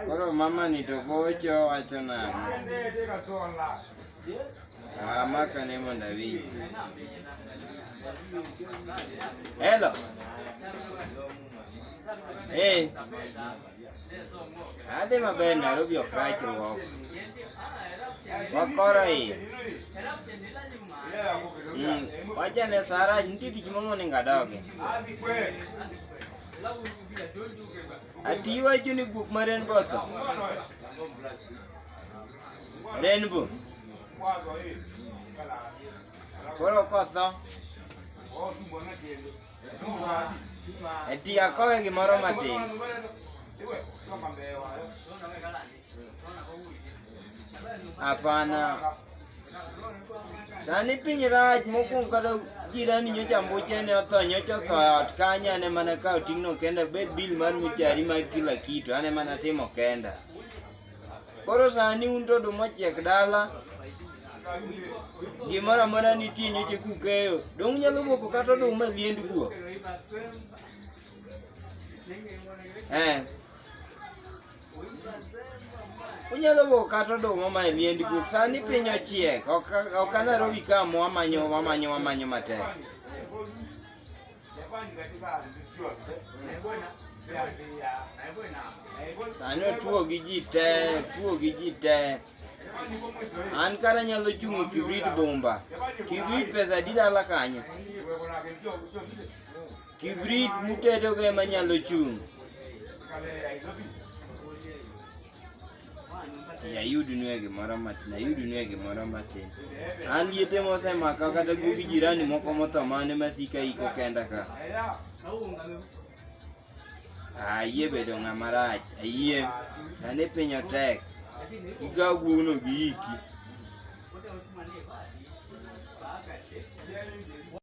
Koro mama ni to gocho wacho nang'o? Ah, maka ne mondo awinji. Hello. Hey. Adhi maber Nairobi ok rachruok. Wakoro iye. Mm. Wacha ne Sarah nitie tich momonego adoge. Ati iwacho ni buk ma Rainbow otho? Rainbow. Koro kotho. Ati akowe gimoro matin. Hapana. Sani piny rach mokuongo kata jirani nyocha mbuche ne otho nyocha otho e ot kanyo ane mana kawo ting'no kenda bed bil mar michari mag kila kitu ane mana timo kenda. Koro sani un to oduma ochiek dala gimoro amora nitie nyocha kukeyo dong' nyalo moko kata oduma e liend kuo. Eh. Unyalo bo kata oduma ma e miendi guok. Sani piny ochiek. Ok ok anarobi ka mo amanyo amanyo amanyo matek. Sani otuo gi ji te, otuo gi ji te. An kara nyalo chung' e kibrit bomba. Kibrit pesa adi dala kanyo? Kibrit mutedogo ema nyalo chung'. Yayudnue gimoro matin, yayudnue gimoro matin. An liete mosemaka kata guog jirani moko motho mane masika iko kenda ka. Ayie bedo ng'ama rach, ayie. Sani piny otek. Ikaw guogno gi iki.